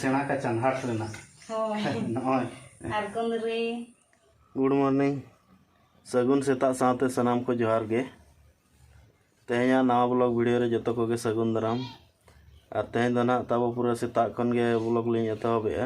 ᱥᱮᱬᱟ ᱠᱟᱪᱟᱱ ᱦᱟᱴ ᱨᱮᱱᱟᱜ ᱱᱚᱜᱼᱚᱭ ᱟᱨ ᱜᱩᱱᱨᱤ ᱜᱩᱰ ᱢᱚᱨᱱᱤᱝ ᱥᱟᱹᱜᱩᱱ ᱥᱮᱛᱟᱜ ᱥᱟᱶᱛᱮ ᱥᱟᱱᱟᱢ ᱠᱚ ᱡᱚᱦᱟᱨ ᱜᱮ ᱛᱮᱦᱮᱧᱟᱜ ᱱᱟᱣᱟ ᱵᱞᱚᱜ ᱵᱷᱤᱰᱤᱭᱳ ᱨᱮ ᱡᱚᱛᱚ ᱠᱚᱜᱮ ᱥᱟᱹᱜᱩᱱ ᱫᱟᱨᱟᱢ ᱟᱨ ᱛᱮᱦᱮᱧ ᱫᱚ ᱱᱟᱦᱟᱜ ᱛᱟᱵᱚ ᱯᱩᱨᱟᱹ ᱥᱮᱛᱟᱜ ᱠᱷᱚᱱ ᱜᱮ ᱵᱞᱚᱜ ᱞᱤᱧ ᱮᱛᱚᱦᱚᱵᱮᱜᱼᱟ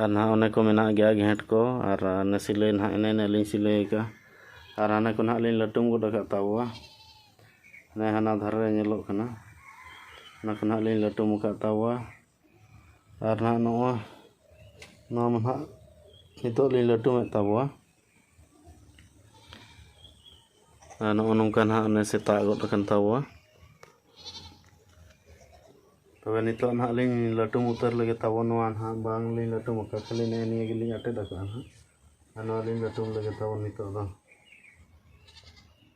ᱟᱨ ᱱᱟᱦᱟᱜ ᱚᱱᱮ ᱠᱚ ᱢᱮᱱᱟᱜ ᱜᱮᱭᱟ ᱜᱷᱮᱸᱴ ᱠᱚ ᱟᱨ ᱚᱱᱮ ᱥᱤᱞᱟᱹᱭ ᱱᱟᱦᱟᱜ ᱮᱱᱮ ᱮᱱᱮ ᱞᱤᱧ ᱥᱤᱞᱟᱹᱭ ᱟᱠᱟᱫᱼᱟ ᱟᱨ ᱦᱟᱱᱮ ᱠᱚ ᱱᱟᱦᱟᱜ ᱞᱤᱧ ᱞᱟᱹᱴᱩᱢ ᱜᱚᱫ ᱟᱠᱟᱫ ᱛᱟᱵᱚᱣᱟ ᱦᱟᱱᱮ ᱦᱟᱱᱟ ᱫᱷᱟᱨᱮ ᱨᱮ ᱧᱮᱞᱚᱜ ᱠᱟᱱᱟ ᱚᱱᱟ ᱠᱚ ᱱᱟᱦᱟᱜ ᱞᱤᱧ ᱞᱟᱹᱴᱩᱢ ᱟᱠᱟᱫ ᱛᱟᱵᱚᱣᱟ ᱟᱨ ᱱᱟᱦᱟᱜ ᱱᱚᱜᱼᱚᱭ ᱱᱚᱣᱟ ᱢᱟ ᱱᱟᱦᱟᱜ ᱱᱤᱛᱚᱜ ᱞᱤᱧ ᱞᱟᱹᱴᱩᱢᱮᱫ ᱛᱟᱵᱚᱣᱟ ᱟᱨ ᱱᱚᱜᱼᱚ ᱱᱚᱝᱠᱟ ᱱᱟᱦᱟᱜ ᱚᱱᱮ ᱥᱮᱛᱟᱜ ᱜᱚᱫ ᱟᱠᱟᱱ ᱛᱟᱵᱚᱣᱟ ᱛᱚᱵᱮ ᱱᱤᱛᱚᱜ ᱱᱟᱦᱟᱜ ᱞᱤᱧ ᱞᱟᱹᱴᱩᱢ ᱩᱛᱟᱹᱨ ᱞᱮᱜᱮ ᱛᱟᱵᱚ ᱱᱚᱣᱟ ᱱᱟᱦᱟᱜ ᱵᱟᱝᱞᱤᱧ ᱞᱟᱹᱴᱩᱢ ᱟᱠᱟᱫ ᱠᱷᱟᱹᱞᱤ ᱱᱮᱜᱼᱮ ᱱᱤᱭᱟᱹ ᱜᱮᱞᱤᱧ ᱟᱴᱮᱫ ᱟᱠᱟᱫᱼᱟ ᱱᱟᱦᱟᱜ ᱟᱨ ᱱᱚᱣᱟ ᱞᱤᱧ ᱞᱟᱹᱴᱩᱢ ᱞᱮᱜᱮ ᱛᱟᱵᱚ ᱱᱤᱛᱚᱜ ᱫᱚ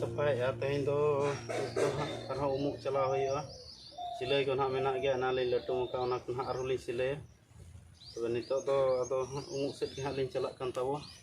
ᱥᱟᱯᱷᱟᱭᱮᱫᱼᱟ ᱛᱮᱦᱮᱧ ᱫᱚ ᱟᱨᱦᱚᱸ ᱩᱢᱩᱜ ᱪᱟᱞᱟᱣ ᱦᱩᱭᱩᱜᱼᱟ ᱥᱤᱞᱟᱹᱭ ᱠᱚ ᱱᱟᱦᱟᱜ ᱢᱮᱱᱟᱜ ᱜᱮᱭᱟ ᱚᱱᱟ ᱞᱤᱧ ᱞᱟᱹᱴᱩᱢ ᱟᱠᱟᱫ ᱚᱱᱟ ᱠᱚ ᱱᱟᱦᱟᱜ ᱟᱨᱦᱚᱸ ᱞᱤᱧ ᱥᱤᱞᱟᱹᱭᱟ ᱛᱚᱵᱮ ᱱᱤᱛᱚᱜ ᱫᱚ ᱟᱫᱚ ᱩᱢᱩᱜ ᱥᱮᱫ ᱜᱮ ᱦᱟᱸᱜ ᱞᱤᱧ ᱪᱟᱞᱟᱜ ᱠᱟᱱ ᱛᱟᱵᱚ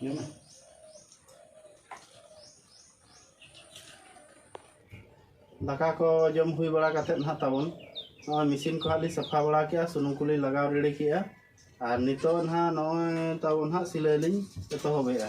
Nhớ mà. ᱫᱟᱠᱟ ᱠᱚ ᱡᱚᱢ ᱦᱩᱭ ᱵᱟᱲᱟ ᱠᱟᱛᱮ ᱱᱟᱦᱟᱜ ᱛᱟᱵᱚᱱ ᱱᱚᱜᱼᱚᱭ ᱢᱮᱥᱤᱱ ᱠᱚ ᱦᱟᱸᱜ ᱞᱤᱧ ᱥᱟᱯᱷᱟ ᱵᱟᱲᱟ ᱠᱮᱜᱼᱟ ᱥᱩᱱᱩᱢ ᱠᱚᱞᱤᱧ ᱞᱟᱜᱟᱣ ᱨᱮᱰᱤ ᱠᱮᱜᱼᱟ ᱟᱨ ᱱᱤᱛᱚᱜ ᱱᱟᱦᱟᱜ ᱱᱚᱜᱼᱚᱭ ᱛᱟᱵᱚᱱ ᱦᱟᱸᱜ ᱥᱤᱞᱟᱹᱭ ᱞᱤᱧ ᱮᱛᱚᱦᱚᱵᱮᱜᱼᱟ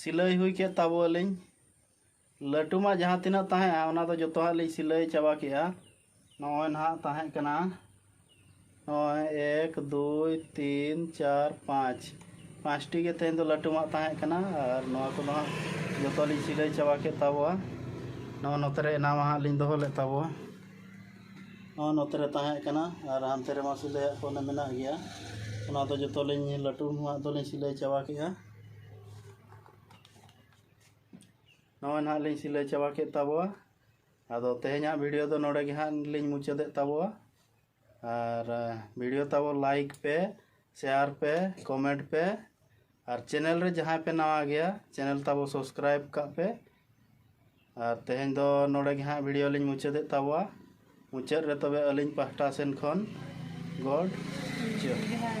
ᱥᱤᱞᱟᱹᱭ ᱦᱩᱭ ᱠᱮᱫ ᱛᱟᱵᱚᱣᱟᱞᱤᱧ ᱞᱟᱹᱴᱩ ᱢᱟ ᱡᱟᱦᱟᱸ ᱛᱤᱱᱟᱹᱜ ᱛᱟᱦᱮᱸᱜᱼᱟ ᱚᱱᱟ ᱫᱚ ᱡᱚᱛᱚ ᱦᱟᱸᱜ ᱞᱤᱧ ᱥᱤᱞᱟᱹᱭ ᱪᱟᱵᱟ ᱠᱮᱫᱼᱟ ᱱᱚᱜᱼᱚᱭ ᱱᱟᱦᱟᱜ ᱛᱟᱦᱮᱸ ᱠᱟᱱᱟ ᱱᱚᱜᱼᱚᱭ ᱮᱠ ᱫᱩᱭ ᱛᱤᱱ ᱪᱟᱨ ᱯᱟᱸᱪ ᱯᱟᱸᱪᱴᱤ ᱜᱮ ᱛᱮᱦᱮᱧ ᱫᱚ ᱞᱟᱹᱴᱩ ᱢᱟᱜ ᱛᱟᱦᱮᱸ ᱠᱟᱱᱟ ᱟᱨ ᱱᱚᱣᱟ ᱠᱚᱫᱚ ᱦᱟᱸᱜ ᱡᱚᱛᱚ ᱞᱤᱧ ᱥᱤᱞᱟᱹᱭ ᱪᱟᱵᱟ ᱠᱮᱫ ᱛᱟᱵᱚᱣᱟ ᱱᱚᱜᱼᱚᱭ ᱱᱚᱛᱮ ᱨᱮ ᱮᱱᱟᱢᱟ ᱦᱟᱸᱜ ᱞᱤᱧ ᱫᱚᱦᱚ ᱞᱮᱫ ᱛᱟᱵᱚᱣᱟ ᱱᱚᱜᱼᱚᱭ ᱱᱚᱛᱮ ᱨᱮ ᱛᱟᱦᱮᱸ ᱠᱟᱱᱟ ᱟᱨ ᱦᱟᱱᱛᱮ ᱨᱮᱢᱟ ᱥᱤᱞᱟᱹᱭᱟᱜ ᱠᱚ ᱢᱮᱱᱟᱜ ᱜᱮᱭᱟ ᱚᱱᱟ ᱫᱚ ᱡᱚᱛᱚ ᱞᱤᱧ ᱞᱟᱹᱴᱩ ᱢᱟᱜ ᱫᱚᱞᱤᱧ ᱥᱤᱞᱟᱹᱭ ᱪᱟᱵᱟ ᱠᱮᱫᱼᱟ ᱱᱚᱜᱼᱚᱭ ᱱᱟᱦᱟᱜ ᱞᱤᱧ ᱥᱤᱞᱟᱹᱭ ᱪᱟᱵᱟ ᱠᱮᱫ ᱛᱟᱵᱚᱣᱟ ᱟᱫᱚ ᱛᱮᱦᱮᱧᱟᱜ ᱵᱷᱤᱰᱤᱭᱳ ᱫᱚ ᱱᱚᱰᱮ ᱜᱮ ᱦᱟᱸᱜ ᱞᱤᱧ ᱢᱩᱪᱟᱹᱫᱮᱫ ᱛᱟᱵᱚᱣᱟ ᱟᱨ ᱵᱷᱤᱰᱤᱭᱳ ᱛᱟᱵᱚ ᱞᱟᱭᱤᱠ ᱯᱮ ᱥᱮᱭᱟᱨ ᱯᱮ ᱠᱚᱢᱮᱱᱴ ᱯᱮ ᱟᱨ ᱪᱮᱱᱮᱞ ᱨᱮ ᱡᱟᱦᱟᱸᱭ ᱯᱮ ᱱᱟᱣᱟ ᱜᱮᱭᱟ ᱪᱮᱱᱮᱞ ᱛᱟᱵᱚ ᱥᱚᱵᱥᱠᱨᱟᱭᱤᱵ ᱠᱟᱜ ᱯᱮ ᱟᱨ ᱛᱮᱦᱮᱧ ᱫᱚ ᱱᱚᱰᱮ ᱜᱮ ᱦᱟᱸᱜ ᱵᱷᱤᱰᱤᱭᱳ ᱞᱤᱧ ᱢᱩᱪᱟᱹᱫᱮᱫ ᱛᱟᱵᱚᱣᱟ ᱢᱩᱪᱟᱹᱫ ᱨᱮ ᱛᱚᱵᱮ ᱟᱹᱞᱤᱧ ᱯᱟᱦᱴᱟ ᱥᱮᱱ ᱠᱷᱚᱱ ᱜᱚᱰ ᱡᱚᱦᱟᱨ